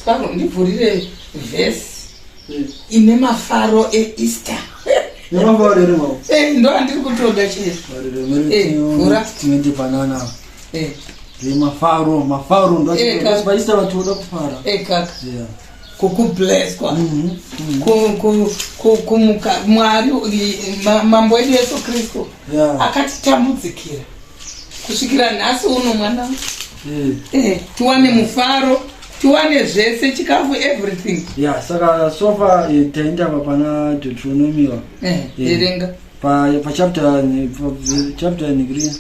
Sparrow ndivhurire verse ine mafaro eEaster. Nemafaro ere mama? Eh, ndo andiri kutoda chero. Eh, vhura. Tinoite banana. Eh. Ndi mafaro, mafaro ndo eh, vachiita vatoda kufara. Eh kaka. Yeah. kukubleswa mhm, mhm. kumuka mwari mambo edu yesu kristu akatitambudzikira kusvikira nhasi uno mwana mm. eh, tiwane mufaro tiwane zvese chikafu everything ya yeah, saka sofa eh, taenda pa pana deuteronomiwa eh, eh, erenga eh, pa pa chapter pa chapter nigri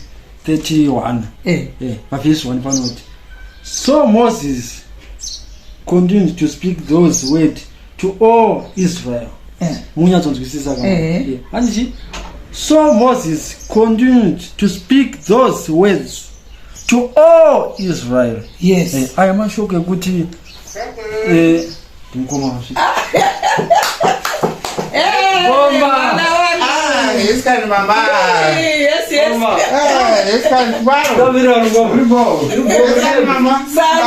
31 eh, eh, pa verse 1 panoti so moses continued to speak those words to all israel eh. munyatsonzwisisa ka eh. handichi so moses continued to speak those words to all israel yes eh, aya mashoko ekuti eh, ndimukoma vasvika Escan mamá. Sí, así es. Mamá. Eh, escan cuadro. No, mira, lo compré, mamá. Salve.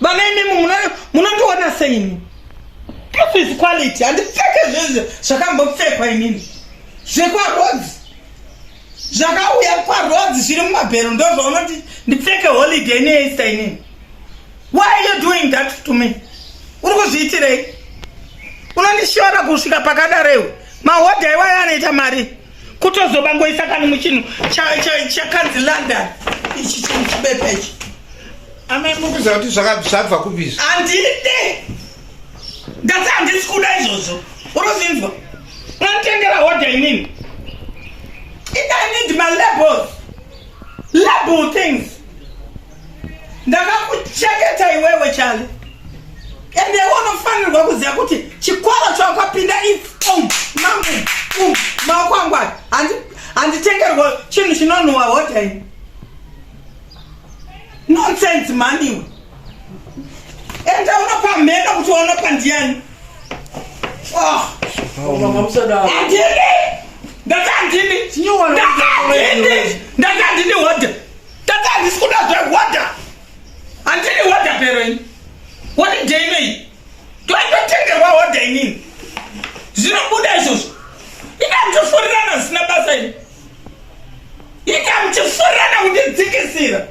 Vana imimi munondiona seini? Proof is quality. Handipfeke zvezvo zvakambopfekwa imimi. Zvekwarodzi. Zvakauya kwarodzi zviri mumabhero ndozvaunoti ndipfeke holiday neEaster inini. Why are you doing that to me? Uri kuzviitirei? Unondishora kusvika pakadaro iwe. Mahodha iwayo anoita mari. kutozobangoisa kani muchinhu chakanzi london ichi chinhu chibepa ichi amai mukuziva kuti zvabva kubizva handide ndati handisi kuda izvozvo unozinzwa unotengera hodha inini i need my labels label things ndakakucheketa iwewe chale ende unofanirwa kuziva kuti chikwara chawakapinda um, um, maoko angu aya handitengerwa chinhu chinonhuwa hotai nonsense maniwe enda unopa mheno kuti wanopa ndiani oh. ndatandini ndatandini ndatandini hoda Tata handisi kuda zvewater. Handidi water pero ini. Wati day nei? Toitotengerwa water inini. Zvinobuda izvozvo. Ina mchifurirana zvisina basa ini. Ina mchifurirana kundidzikisira.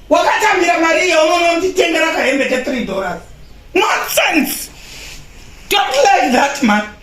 Wakatambira mari iyo unoona kutitengera kahembe ke 3 dollars. Nonsense. Don't like that man.